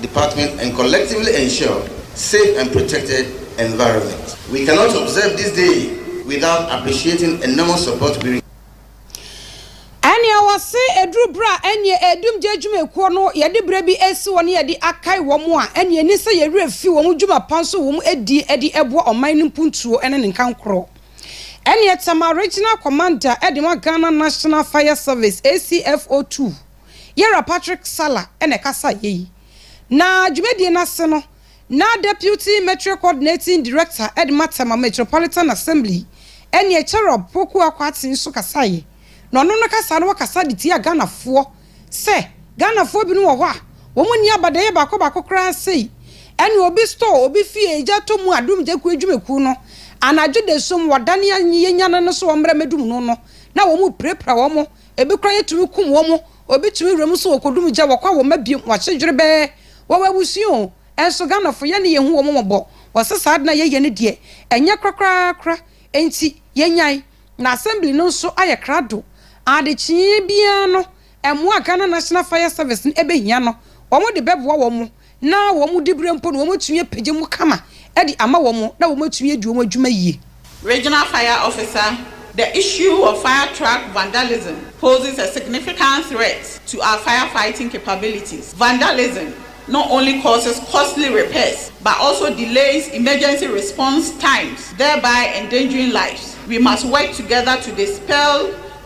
department and collectively ensure safe and protected environment. We cannot observe this day without appreciating enormous support we. Ɛnea wɔse ɛduru berɛ a ɛneɛ ɛredum gya adwumakuo no yɛde berɛ bi resi hɔ na yɛde akae wɔn a ɛneɛ ɛni sɛ yɛn werɛ fi wɔn dwuma pa nso wɔn adie ɛde ɛboa ɔman no mpuntuo ne ne nkankorɔ ɛneɛ Tema Regional Commander ɛde ma Ghana National Fire Service, ACFO, tu. Yɛwura Patrick Salah na ɛkasaeɛ yi. Na dwumadie no ase no, na Deputy Metre Coordinating Director de ma Tema Metropolitan Assembly, ɛneɛ Cherob Poku Akwati nso kasaeɛ. Na ɔno no kasa no ɔkasa de tiaa Ghanafoɔ sɛ Ghanafoɔ binom wɔ hɔ a wɔn nni abadayɛ baako baako koraa sei ɛne obi store obi fie egya tɔ mu a Dum Gyekuo adwumakuo no anadwo dasum wɔdane yɛnyane no so wɔmmra mmɛdum no no na wɔn pirapira wɔn Ebi koraa yɛtumi kum wɔn, obi tumi wura mu nso wɔkɔdum gya, wɔkɔ a wɔmma biom, wɔakye dwerebɛɛ, wɔwɔ abusua o, ɛnso Ghanafoɔ yɛne yɛhu wɔn mmɔbɔ, wɔse saa ade no a yɛyɛ no deɛ ɛnyɛ korakorakora, enti yɛnyae, na Assembly no nso ayɛ krado, adekyee biara no mmoa a Ghana National Fire Service no bɛhia no wɔde bɛboa wɔn, na wɔn diberɛ mpo no wɔatumi apagya mu kama de ama wɔn na wɔatumi adi wɔn adwuma yie. Regional Fire Officer, The issue of fire truck vandalism poses a significant threat to our firefighting capabilities. Vandalism not only causes costly repairs but also delays emergency response times thereby endangering lives. We must work together to dispel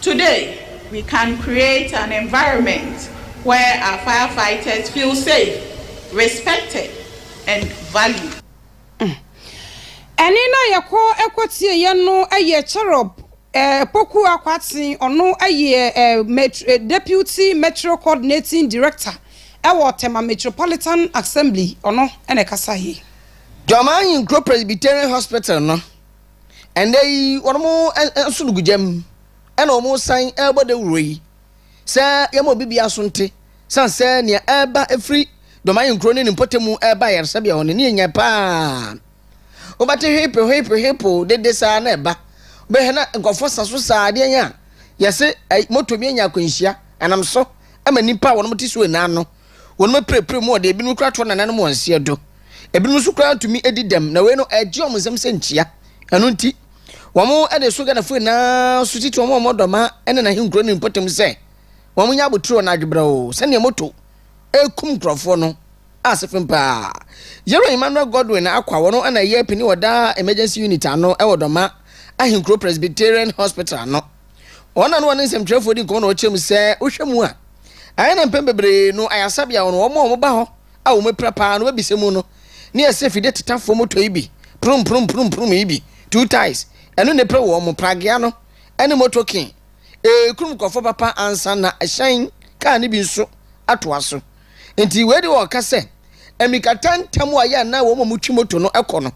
Today, we can create an environment where our firefighters feel safe, respected and valued. Ɛnne no a yɛkɔ kɔtieeɛ no yɛ Cherub Poku Akwaten, ɔno yɛ Deputy Metro Coordinating Director wɔ Tema Metropolitan Assembly, ɔno na ɛkasaeɛ. Dwamanyɛ Nkuro Presbyterian Hospital no. Ɛnnɛ yi wɔnom nso no gu gya mu ɛna wɔn san ɛrebɔ dawuro yi sɛ yɛma obi bia so nte san sɛ nea ɛreba ɛfiri Dɔmayi nkuro ne ne mpɔtamu ɛreba ayaresabea hɔ no ne ɛnyɛ paa. Wobɛte hweepe hweepe hweepo dede saa na ɛba wobɛhwɛ na nkɔfoɔ sa so saa adeɛ yɛn a yɛse moto bi anya akwanhyia ɛnam so ɛma nipa a wɔnom te so ɛnaa no Wɔnom apirapira mu ɔde, ebinom koraa to wɔn nananom wɔn seɛ do, ebinom nso koraa ntumi edi dɛm, na wei no ɛgye wɔn nsam sɛ nkyia. Ɛno nti, wɔn de so Ghanafoɔ nyinaa so titi wɔn a wɔn dɔma ne n'ahenkuro ne ne mpɔtam sɛ wɔn nyɛ abotire na adwebrɛw sɛdeɛ moto rekum nkorɔfoɔ no a sefem paa. Yerah Emmanuel Godwin Akwa wɔno na ɛyɛ pini wɔ daa Emergency Unit ano wɔ Dɔma Ahenkuro Presbyterian Hospital ano. Wɔn na na wɔne nsɛmtwerɛfoɔ di nkɔmmɔ na wɔkyerɛ mu sɛ wohwɛ mu a, ayɛ na mpɛn bebree no ayaresabea hɔ no wɔn a wɔba hɔ a wɔapira paa no bɛbisa mu no ne ɛsɛ fidie tetafoɔ motɔ yi bi, prum prum prum prum yi bi, two ties, ɛno na ɛpira wɔn, pragea no ne motokin, ɛrekurum nkurɔfoɔ papa ansa na hyɛn, kaa no bi nso atoa so. Nti wei de wɔka sɛ mmirikatɛntɛm a yɛ a na wɔn a wɔtwi moto no kɔ no,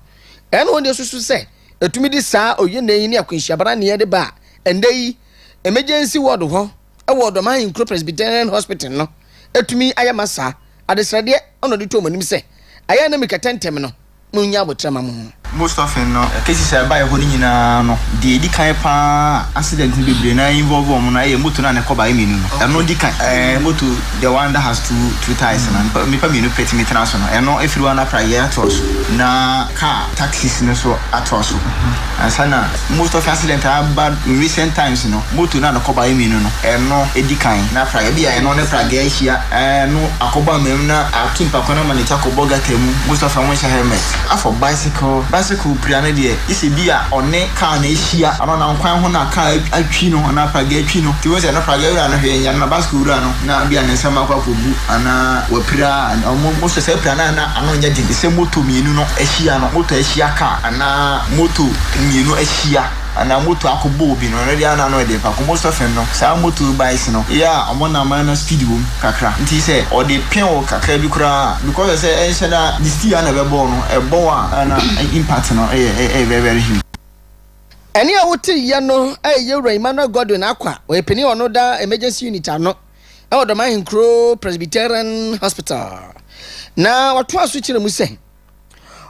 ɛna wɔn deɛ susu sɛ Ɛtumi de saa oyenee yi ne akwanhyiabara nneɛ de ba a, ɛnnɛ yi Emergency Ward hɔ wɔ Ɔdɔm Ahen Kuro Presbyterian Hospital no ɛtumi ayɛ ma saa. Adesrɛdeɛ na ɔde too mo anim sɛ, ayɛ a na mi kɛtɛntɛm no, monnya aboterɛ ma mo ho. Most often no, cases a ɛbaeɛ hɔ no nyinaa no, deɛ ɛdi kan pa ara a accident no bebree no ara involve wɔn no, ɛyɛ motor no a ne kɔbaeɛ mmienu no. Ɛno di kan, ɛɛ motor, the one that has two, two tyres no, nnipa mmienu pɛ tumi tena so no, ɛno ɛfiri hɔ a na prayɛ toɔ so. Na car. taxis no so atɔ so ansa na most of accident a aba in recent times no moto no a nakɔba yɛ mmienu no ɛno ɛdi kan na pra ebi a ɛno ne praga ahyia ɛno akɔbɔ amam na ato nipa kwan ama ne ti akɔbɔ gata mu most of wɔn nhyɛ helmet afɔ bicycle bicycle pira no deɛ isɛ bi a ɔne car na ahyia ano na nkwan ho na car atwi no anaa praga atwi no ti wɔn sɛ ɛno praga wura no hwɛ nyɛ na bicycle wura no na bi a ne nsa mako akɔgu anaa wapira wɔn most of sɛ pira no a na Ano nyɛ den sɛ moto mmienu no ahyia no, moto ahyia car anaa moto mmienu ahyia anaa moto akɔbɔ obi no, ɛno deɛ ana ano yɛ den paa. Kumbo Sɔfin no, saa moto bikes no yɛ a wɔn nnammaa no speed wɔ mu kakra nti sɛ ɔde pɛ wo kakra bi koraa a, because ɛsɛ sɛ ɛnhyɛ da de steel ara na ɛbɛbɔ wo no, ɛbɔ wo a na impact no yɛ very very huge. Ɛne a wote yɛ no ɛyɛ Yɛwura Emmanuel Godwin Akwa, ɔyɛ panin a ɔno da Emergency Unit ano. wɔ Dɔm Ahenkurow Presbyterian Hospital, na wɔtoa so kyerɛ mu sɛ,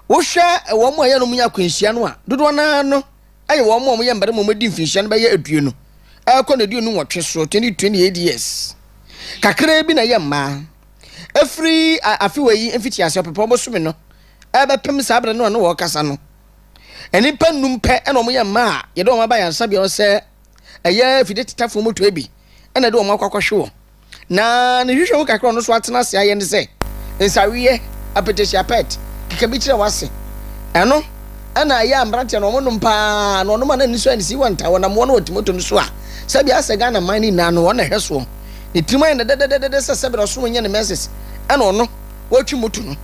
Wohwɛ wɔn a yɛne wɔn nya akwanhyia no a, dodoɔ no ara no yɛ wɔn a wɔyɛ mmarima a wɔadi mfinhyia no bɛyɛ aduonu ɛrekɔ no aduonu nwɔtwe so, 20-28 years. Kakraa bi na ɛyɛ mmaa. Ɛfiri afewa yi mfitiase ɔpepɔn bosome no ɛrebɛpem saa berɛ no a na wɔrekasa no, nnipa nnum pɛ na wɔyɛ mmaa a yɛde wɔn aba ayaresabea hɔ sɛ ɛyɛ afide tetafoɔ mu tɔe bi na ɛde wɔn akɔ akɔhwe wɔn. Na ne nhwehwɛmu kakra a ɔno nso atena ase ayɛ ne sɛ, nsaweeɛ, apɛtɛhyia pɛt, keka bi kyerɛ w'ase. Ɛno na ɛyɛ a mmeranteɛ no wɔnom pa ara, na wɔnom a na ani so ayɛ no sɛ Iwan taa wɔnam wɔn wɔ Timoto no so a, sɛbe ayɛ sɛ Ghana man no nyinaa no wɔn na ɛhwɛ soɔ. Ne tirim ayɛ no dɛdɛdɛdɛdɛ sɛ sɛbe na ɔsoro nyɛ ne menses na ɔno wɔretwe moto no.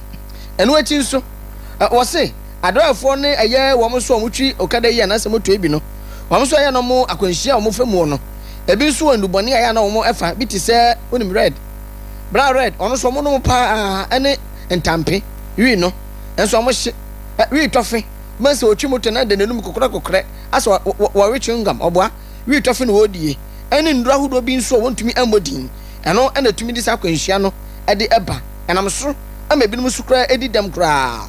Ɛno akyi nso, wɔse, Adoɛfoɔ ne ɛyɛ wɔn nso a wɔtwi okada yi anaasɛ motoe bi no, wɔn nso ɛyɛ no wɔn akwanhyia a wɔfa muo no. Ebi nso wɔ nnubɔne a ɛyɛ a na wɔn ɛfa bi te sɛ, wonim red, brown red, wɔn nso wɔn nom paa ara ne ntampe, wii no nso wɔn hye, ɛ, wii tɔfe, wobɛhu sɛ ɔtwi moto na ɛde n'anum kokorɛ kokorɛ asɛ wɔ, wɔ, wɔ, wɔwe chewing gum, ɔboa, wii tɔfe na ɔredie, ɛne nnuro ahodoɔ bi nso a wɔntumi mmɔ din, ɛno na ɛtumi de saa akwanhyia no ɛde ɛba, ɛnam so ma ebinom nso koraa ɛdi dɛm koraa.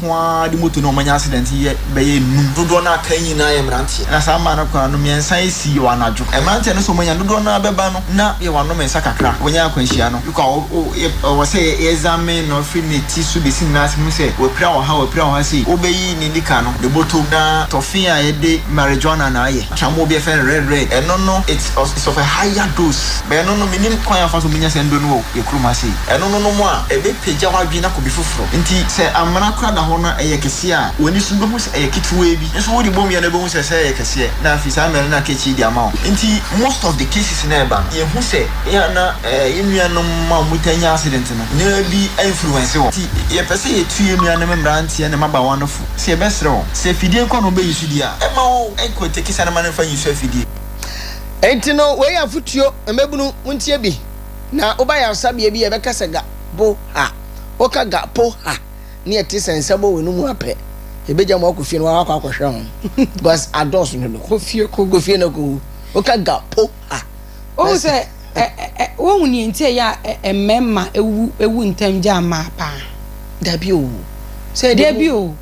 ko ara de moto no a wɔanya asedɛnte yɛ bɛyɛ nnum. Dodoɔ no a aka nyinaa yɛ mmeranteɛ. Na saa mmaa no koraa no, mmiɛnsa si wɔ anadwo. Mmeranteɛ no nso, wɔanya dodoɔ no ara bɛba no, na wɔanom nsa kakra. Wɔnyaa akwanhyia no. Luka a ɔwɔ sɛ yɛɛzamee no firi ne ti so bɛsi ne nan ase hu sɛ wapira ɔha, wapira ɔha sei. Wobɛyi ne nika no, ne bɔtɔ mu, na tɔfe a yɛde marijuana na ayɛ, atramoɔ bi a yɛfrɛ no red red, ɛno no, it's of a higher dose. Bɛɛ no no, mennim kwan a wɔfa so menya saa nnuro no wɔ yɛn kurom ha sei. Ɛno no nom a, ɛbɛpagya w'adwene akɔ baabi foforɔ. Enti sɛ amena kora da hɔ na ɛyɛ kɛseɛ a, w'ani so bɛhu sɛ ɛyɛ ketewaa bi, nso wode bom yɛ no wobɛhu sɛ sɛ ɛyɛ kɛseɛ na afei saa mmerɛ no na aka akyire de ama wo. Enti most of the cases na ɛba no yɛhu sɛ yɛ a na yɛn nuanom a wɔn taa nya accident no na bi influence wɔn. Enti yɛpɛ sɛ yɛtu yɛn nuanom mmeranteɛ ne mmabaawa no fo sɛ yɛbɛsrɛ wɔn sɛ afidie nko ara na wɔbɛyi so di a, ɛmma wɔn nkɔ tekesa no ma no mfa nyi so afidie. Enti no wei yɛ afotuo, mmabunu montie bi na woba ayaresabea bi a yɛbɛka sɛ ga bo ha. Woka ga po ha ne ɛte sɛ nsa bɔ w'ano mu a pɛ yɛbɛgya mo akɔ fie na woakɔ akɔhwɛ ho because adɔɔso no do. Kɔ fie kɔ wu. Kɔ fie na kɔ wu. Woka ga po ha. Wohu sɛ ɛ ɛ ɛ wohu nea nti a ɛyɛ a ɛ ɛ mmarima wu wu ntɛm gyaa mmaa paa? Dabi o. Sɛ ɛde mu. Dabi o.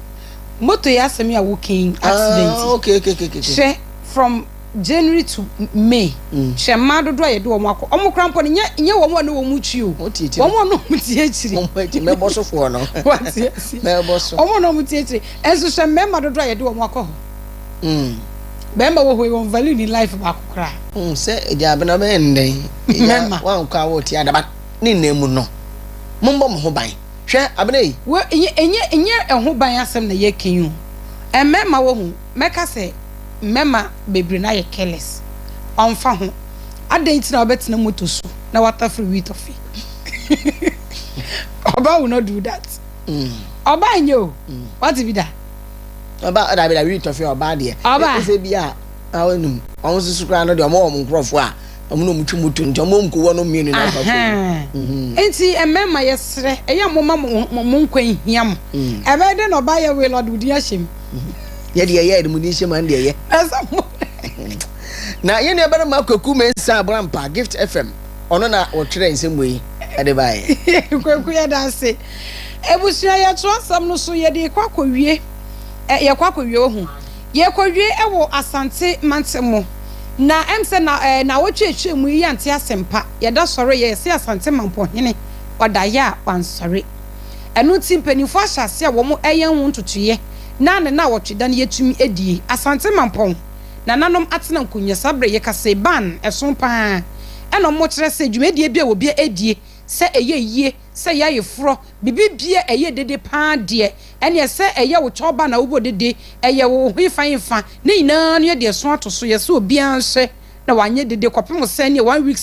Moto yi asɛm yi a woka yi accident yi. Ah okay okay okay okay. Hwɛ from. January to May, hwɛ mmaa dodoɔ a yɛde wɔn akɔ. Wɔn koraa mpo no, nyɛ nyɛ wɔn a na wɔn retwi o. Wɔn ti akyire. Wɔn a na wɔn ti akyire. Wɔn akyi mɛbɔ sofoɔ no. Wɔte ase. Mɛbɔ so. Wɔn a na wɔn ti akyire. Nso hwɛ mmarima dodoɔ a yɛde wɔn akɔ hɔ. Bɛrima wɔ hɔ yi, wɔn value ni life baako koraa. Sɛ egya abena bɛyɛ ndɛn. Mɛma. Wɔn akɔ a wɔte adaba ne nnan mu no. Mo mbɔ mo ho ban. Hwɛ abena yi. Wɔ enye enye enye ɛho ban asɛm na yɛka yi o. Mmarima wɔ ho. Mɛka sɛ, Mɛma bebree no ayɛ careless, ɔmfa ho. Adɛn nti na wobɛtena moto so na woatafere wheat ɔfe? Ɔbaa will not do that. Ɔbaa nyɛ o, wate bi da? Ɔbaa, ɔda bi da wheat ɔfe ɔbaa deɛ. Ɔbaa. Ɛsɛ bi a, awo num. Wɔn soso koraa no deɛ, wɔn wɔ wɔn nkorɔfoɔ a, wɔn na wɔn twi moto nti, wɔn wɔn kɔ wɔn mmienu na afa fam. Nti mmarima yɛsrɛ, ɛyɛ a momma mo nkwa nhia mo. Ɛbɛyɛ dɛn na ɔbaa yɛ will ɔde wo din ahyɛ mu? Nyɛ deɛ ɛyɛ ɛde mu di nhyɛmu ɛne deɛ ɛyɛ. Nansa mo na yɛn nuabarima Kwaku Mensah Abrampa Gift FM ɔno na ɔtwerɛ nsɛm wei ɛde baeɛ. Kwaku yɛda ase. Abusua yɛ twerɛ nsɛm no so yɛde rekɔ akɔwie ɛ yɛkɔ akɔwie ohu yɛkɔwie ɛwɔ Asante mantam mu na ɛm sɛ na ɛ nawɔtwe atwa mu yi yɛante asɛmpa yɛda sɔre yɛ yɛse Asante Mampohene ɔdaeɛ a wansɔre. Ɛno nti mpaninfoɔ ahyɛ aseɛ a wɔn ɛyɛ ho ntotoeɛ na ne naawɔtwe da no yɛtumi adie. Asante Mampɔn nananom atena nkonwa saa berɛ yɛkasɛi ban ɛso paa ɛna wɔn kyerɛ sɛ dwumadie biara wɔbia adie sɛ ɛyɛ yie sɛ ɛyɛ ayeforɔ biribi biara ɛyɛ dede paa deɛ ɛneɛ sɛ ɛyɛ wo kyɛw ban a wobɔ dede ɛyɛ wo hefa hefa ne nyinaa no yɛde ɛso ato so yɛsɛ obiara nhyɛ na wanyɛ dede kɔpem sɛ ɛneɛ one week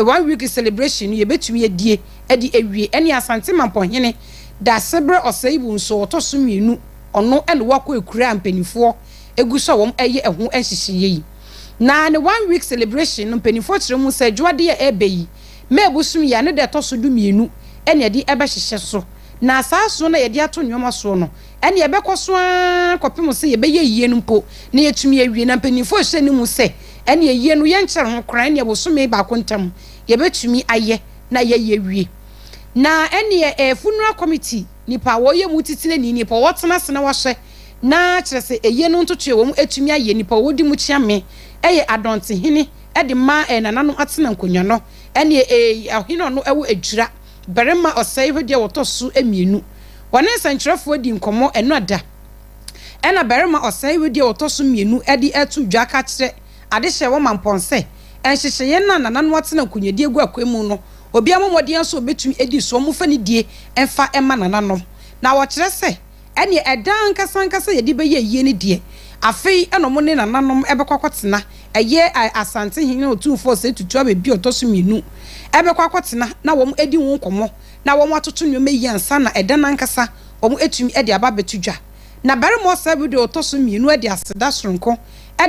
one week celebration no yɛbɛtumi adie. de awie. Ɛne Asante Mampɔhene Daasebrɛ Ɔsɛebu nso a ɔtɔ so mmienu, ɔno ne wakɔ akura a mpaninfoɔ gu so a wɔn ɛyɛ ɛho nhyehyɛeɛ yi. Na ne one week celebration no mpaninfoɔ kyerɛ mu sɛ dwoadeɛ a ɛɛba yi May abosom yi a ne da ɛtɔ so du mmienu ɛne yɛde ɛbɛhyehyɛ so. Na saa so no a yɛde ato nnoɔma soɔ no ɛne ɛbɛkɔ so ara kɔpem sɛ yɛbɛyɛ ayie no mpo na yɛatumi awie. Na mpaninfoɔ hyɛ no mu sɛ ɛne ayie no yɛnkyɛre ho koraa ɛne bosome baako ntam yɛbɛtumi ayɛ. na yɛyi awie. Na ɛneɛ ɛyɛ funeral committee nipa a wɔyɛ mu titenani nipa a wɔtena ase na wɔahyɛ na kyerɛ sɛ ɛyɛ no ntotoeɛ wɔn atumi ayɛ nipa a wɔdi mu kyeame ɛyɛ adɔntehene ɛde ma ɛyɛ nananom atena nkonwa no ɛneɛ ɛyɛ ɔhene ɔno ɛwɔ adwira barima ɔsɛe hɔ deɛ wɔtɔ so mmienu wɔne nsɛnkyerɛfoɔ adi nkɔmmɔ ɛno ada ɛna barima ɔsɛe hɔ deɛ wɔtɔ so mmienu ɛde ato dwa ka kyerɛ Ade hyɛ wɔn ma mpɔn sɛ, nhyehyɛeɛ no a Nana no atena nkonyɛdie agu akwan mu no, obiara mmɔ mmɔden ara sɛ ɔbɛtumi adi so, wɔmfa anidie mfa mma Nana no. Na wɔkyerɛ sɛ, ɛnneɛ ɛda ankasa ankasa a yɛde bɛyɛ ayie no deɛ, afei na wɔne Nana no bɛkɔ akɔtena, ɛyɛ Asantehene ne Otumfoɔ Osei Tutu Abɛbia a ɔtɔ so mmienu, bɛkɔ akɔtena na wɔadi ho nkɔmmɔ na wɔatoto nneɛma yie ansa na ɛda no ankasa wɔatumi de aba abɛto dwa. Na Barima Osei Abɛbia a ɔtɔ so mmienu de aseda sononko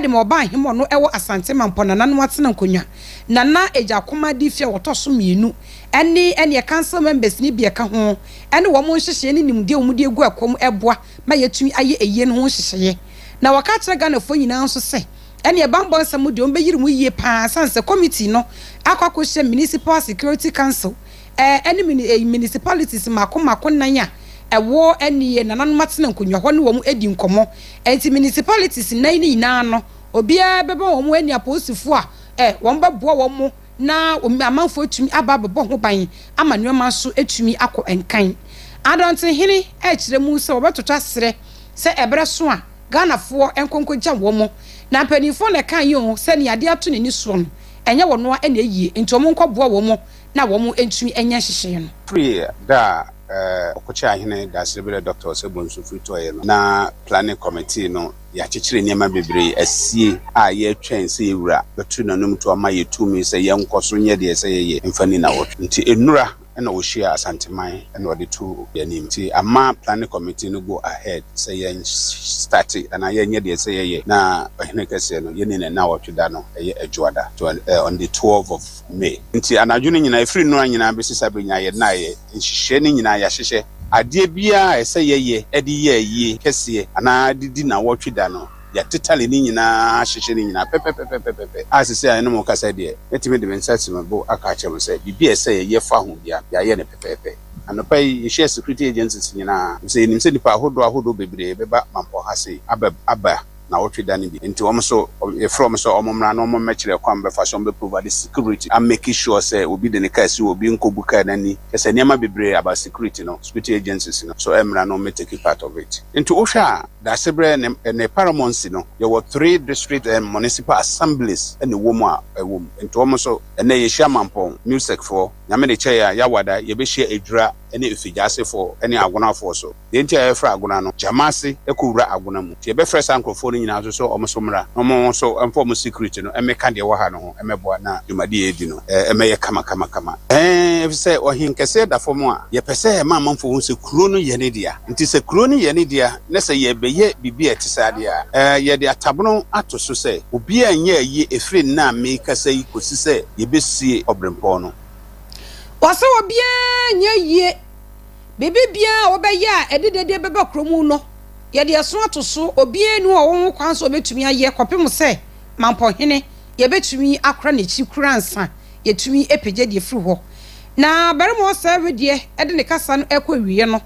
de ma ɔbaa hema ɔno ɛwɔ Asante Mampɔ Nana no atena nkonwa Nana Agyakomma di fie a wɔtɔ so mmienu ɛne ɛneɛ council members no bi ɛka ho ɛne wɔn nhyehyɛeɛ ne nimdeɛ a wɔn de agu ɛkɔm ɛboa ma yɛtumi ayɛ ɛyie no ho nhyehyɛeɛ na wɔka akyerɛ Ghanafoɔ nyinaa nso sɛ ɛneɛ banbɔ nsɛm deɛ wɔn bɛyiri mu yie paa ɛsiane sɛ committee no akɔ akɔhyɛ Municipal Security Council ɛne municipalities mako mako nnan a ɛwɔ ɛne yɛ nananom atena nkonnwa hɔ ne wɔn adi nkɔmmɔ. Ɛnti municipalities nnan no nyinaa no, obiara bɛma wɔn ɛne apolisifoɔ a ɛ, wɔn bɛboa wɔn na amanfoɔ atumi aba abɛbɔ ho ban ama nnoɔma nso atumi akɔ nkan. Adantenhene ɛkyerɛ mu sɛ wɔbɛtoto aserɛ sɛ ɛberɛ so a Ghanafoɔ nkɔ nkɔgya wɔn. Na mpaninfoɔ na ɛkaeɛ o, sɛ nea adeɛ ato n'ani soɔ no, ɛnyɛ wɔn ara na ɛyie, nti wɔn nkɔboa wɔn. na wɔantumi anyɛ nhyehyɛe no. Firi da a Ɔkokyɛɛ Ahene Dasereberɛ Dɔkta Osei-Bonsu firi tɔeɛ no, na Planning Committee no yɛakyekyere nneɛma bebree asie a yɛretwɛn sɛ yɛn Wura bɛto n'anom to ama yɛn tumi sɛ yɛnkɔ so nyɛ deɛ ɛsɛ yɛyɛ mfa nni nnawɔtwe. Nti nnora na ɔhyiaa Asanteman na ɔde too yɛn anim. Nti ama Planning Committee no go ahead sɛ yɛn starte anaa yɛn nyɛ deɛ ɛsɛ yɛyɛ na Ɔhene Kɛseɛ no yɛnni no nnawɔtwe da no ɛyɛ Adwoada on the twelve of me. Nti anadwo no nyinaa, ɛfiri nnora nyinaa bɛsi saa berɛ nyinaa, yɛ nna a yɛ nhyehyɛɛ no nyinaa yɛahyehyɛ adeɛ biara a ɛsɛ yɛyɛ de yɛ ayie kɛseɛ anaa de di nnawɔtwe da no, yɛatetale ne nyinaa ahyehyɛ ne nyinaa pɛpɛpɛpɛpɛpɛ a seesei a me ne mo rekasa deɛ, mɛtumi de me nsa asi me bo aka akyerɛ mo sɛ biribi a ɛsɛ yɛyɛ fa ho biara, yɛayɛ no pɛpɛɛpɛ. Anɔpa yi, yɛhyiaa security agencies nyinaa, ɛfiri sɛ yɛnim sɛ nnipa ahodoɔ ahodoɔ bebree bɛba mampɔn ha sei aba aba. naawɔtwe da no bi nti wɔn nso yɛfrɛ wɔn sɛ wɔn mmra na wɔn mmɛkyerɛ kwan bɛfa so a wɔbɛ provide security a make sure sɛ obi de ne car si hɔ obi nkɔbu car no ani kyerɛ sɛ nneɛma bebree about security no security agencies no nso mmra na wɔmmɛ take part of it nti wohwɛ a Daasebrɛ ne ne paramountcy no yɛwɔ three district and municipal assemblies na ɛwɔ mu a ɛwɔ mu nti wɔn nso ɛnnɛ yɛhyia Mampɔn Newsec foɔ Nyame de kyɛɛ yɛn a Yawada yɛbɛhyia Adwira ne Efigyaasefoɔ ne Agonafoɔ so. Deɛ nti a yɛfrɛ agona no, gyama ase kɔ wura agona mu. Nti yɛbɛfrɛ saa nkorɔfoɔ no nyinaa nso sɛ wɔn nso mmra na wɔn nso mfa wɔn secret no mmɛka deɛ ɛwɔ ha no ho mmɛboa na dwumadie a yɛredi no mmɛyɛ kamakamakama. Ɛɛn, ɛfiri sɛ ɔhenkɛseɛ da fam a, yɛpɛ sɛ yɛma amanfoɔ hu sɛ kuro no yɛ ne dea. Nti sɛ kuro no yɛ ne dea na sɛ yɛrebɛyɛ biribi a ɛte saa deɛ a, ɛɛn, yɛde atabono ato so sɛ obiara nyɛ ayie ɛfiri nna a merekasa yi kɔsi sɛ yɛbɛsie ɔberempɔn no. Wɔse obiara nyɛ ayie. Biribi biara a wɔbɛyɛ a ɛde dɛdɛ bɛba kurow mu no, yɛde ɛso ato so. Obiara nni hɔ a ɔwɔ ho kwan sɛ obetumi ayɛ kɔpem sɛ mampɔ hene yɛbetumi akora n'akyi koraa ansa yɛatumi apagya de afiri hɔ. Na barima ɔsɛe wedeɛ de ne kasa no rekɔ awieɛ no,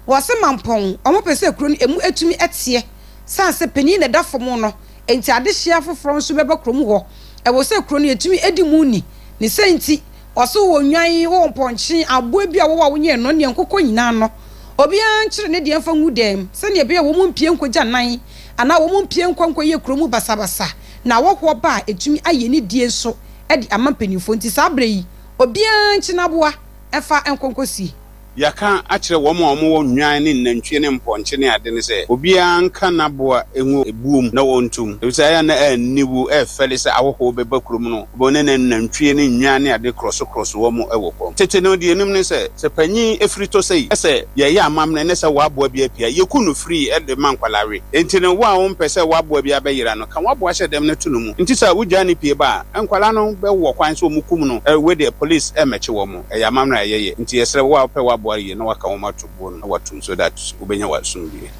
wɔse mampɔn wɔn pɛ sɛ kuro no ɛmu atumi teɛ sane sɛ panin na ɛda fam no nti adehyeɛ afoforɔ nso bɛba kurom hɔ. Ɛwɔ sɛ kuro no yɛtumi di mu ni ne sɛ nti Ɔso wɔ nnwan wɔ mpɔnkye, aboa bi a wɔwɔ a wonyɛɛ no, ne nkokɔ nyinaa no, obiara nkyere ne deɛ mfa ngu dan mu, sɛdeɛ ɛbɛyɛ a wɔmpue nkɔgya nan, anaa wɔmpue nkɔ nkɔyɛ kuro mu basabasa, na awɔhoɔ ba a, ɛtumi ayɛ anidie nso de ama mpanimfoɔ. Nti saa berɛ yi, obiara nkye n'aboa mfa nkɔ nkɔsie. Yɛaka akyerɛ wɔn a wɔwɔ nnwan ne nnantwie ne mpɔnkye ne ade no sɛ, Obiara nka n'aboa ngu buom na wɔnto mu, efisɛ ɛyɛ a na aniwu refɛre sɛ ahɔho bɛba kurom no, wɔne n'anantwie ne nnwan ne ade korɔsokorɔso wɔn wɔ fam. Tete no, deɛ yɛnim ne sɛ, sɛ panin firi tɔ sɛi, sɛ yɛreyɛ amammerɛ ne sɛ w'aboa bi apia, yɛku no firi de ma nkwadaa we. Enti no, wo a wompɛ sɛ w'aboa bi abɛyera no, ka w'aboa hyɛ dɛm na to no mu. Enti sɛ wogyaa no pue ba a, nkwadaa no bɛwɔ kwan sɛ wɔkum no. We deɛ, polis mmɛkye wɔn. Ɛyɛ amammerɛ a ɛyɛ yɛ. Nti yɛsrɛ wo a wopɛ w'aboa yie na woaka wɔn ato buo no na woato mu so that wobɛnya w'asomdwoeɛ.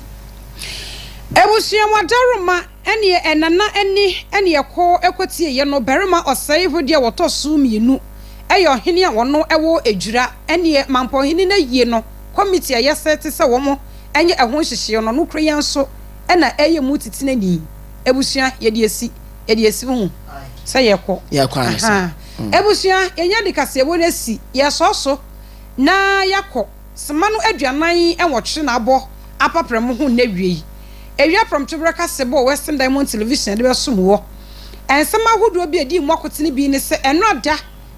Abusua mu adaworoma ɛneɛ ɛnana ani ɛne ɛkɔ ɛkɔtie yɛ no barima ɔsɛe ho deɛ wɔtɔ soo mmienu ɛyɛ ɔhene a ɔno ɛwɔ adwira ɛneɛ mampɔhene no ayie no committee a yɛsɛte sɛ wɔn ɛnyɛ ɛho nhyehyeɛ no nokorɛ yɛn nso ɛna ɛyɛ mu titenani abusua yɛde asi yɛde asi wohu sɛ yɛkɔ yɛkɔ ansa. Ebusua, yenya de kaseɛbɔ no esi yɛ sɔɔ so na yɛakɔ sema no aduanan nwɔtwe na abɔ apapra mo ho nnawiei. Ewia prɔmtoberɛ kaseɛbɔ wɔ Western Diamond Television yɛde bɛsom wɔ. Nsɛm ahodoɔ bi a edii mu akote no bi ne sɛ ɛnora da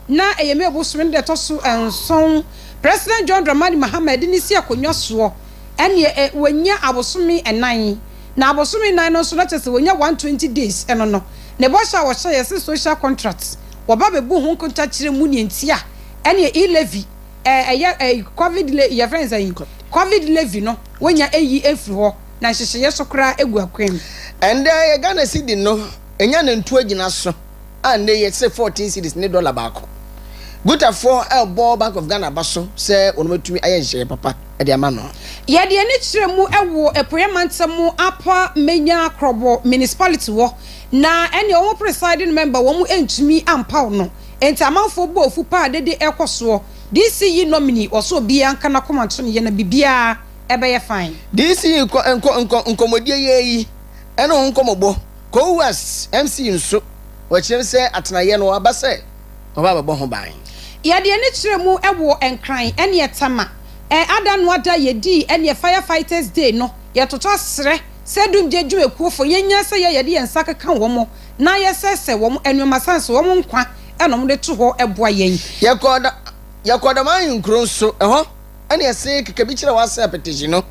na ɛyɛ May bosome no da ɛtɔ so nson President John Dramani Mahama de no si akonnwa soɔ ɛneɛ wanya abosome nnan. Na abosome nnan no nso, na kyerɛ sɛ wɔnya one twenty days, ɛno no ne bɔhyɛ a wɔhyɛ yɛ se social contract, wɔba bɛbu ho nkontakyerɛ mu neɛ nti a ɛneɛ e levy ɛɛ ɛyɛ ɛɛ covid le yɛfrɛ no sɛn covid levy no wɔnya ɛyi ɛfiri hɔ na nhyehyeeɛ so koraa ɛgu akwan mu. Ɛndɛ yɛ Ghana cedi no ɛnya nantuo gyina so. a nnɛ yi ɛte sɛ fourteen cedis ne dɔla baako. Gutafoɔ rebɔ Bank of Ghana aba so sɛ wɔatumi ayɛ nhyehyɛeɛ papa de ama no. Yɛde ani kyerɛ mu wɔ Apueɛ Mantam mu Apa Manya Krobo Municipality hɔ na ɛnneɛ wɔn presiding member wɔn ntumi ampaw no nti amanfoɔ bɔ afu paa dede rekɔ soɔ DC yi nominee ɔsɛ obiara nka nakoma nto ne yɛ na biribiara ɛbɛyɛ fine. DC yi nkɔ nkɔ nkɔ nkɔmɔdie yɛ yi ɛne ho nkɔmɔbɔ Cohoes MC nso, wɔkyerɛ sɛ atenaeɛ no aba sɛ wɔba abɛbɔ ho ban. Yɛde ani kyerɛ mu wɔ Nkran ɛneɛ Tama ada no ada yɛdii ɛneɛ Fire Fighters Day no, yɛtotɔ srɛ sɛ dumgye dwumakuofo yɛnya sɛ yɛ yɛde yɛn nsa keka wɔn na yɛsɛsɛ wɔn nnoɔma sane sɛ wɔn nkwa na wɔn de to hɔ boa yɛn. Yɛkɔɔ da yɛkɔɔ dama ahenkuro nso, ɛhɔ ɛneɛ see kekabi kyerɛ wɔ asɛ apɛtɛhyi no,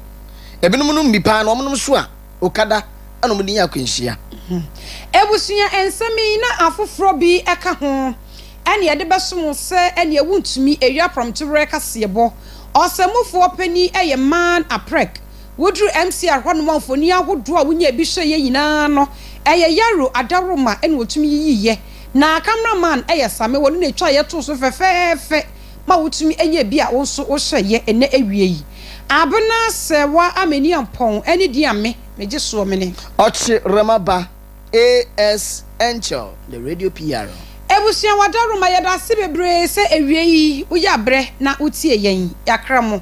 ebinom nom bi paa na wɔn nom so a. Okada na wɔde nya akwanhyia. Abusua nsɛm yi na afoforɔ bi ka ho na yɛde bɛsom wo sɛ ɛneɛ wontumi ɛwia aprɔmtoberɛ kaseɛbɔ. Ɔsɛmmufoɔ panin yɛ Man Aprek. Woduru MCR hɔ nom a mfoni ahodoɔ a wonyaa bi hwɛeɛ nyinaa no ɛyɛ Yaro Adaworoma na wɔtumi yiyiiɛ. Na camera man yɛ Same, wɔno na ɛtwaeɛ too so fɛfɛɛfɛ. ma wotumi nya bi a wo nso wohyɛ yɛ nnɛ awia yi. Abena Sɛwa Ameni Ampɔn ne din a me megye soɔ mene. Ɔkyerɛma ba AS Angel the radio PR. Abusua Wadaroma yɛda ase bebree sɛ awia yi woyɛ abrɛ na wotie yɛn. Yɛakra mo.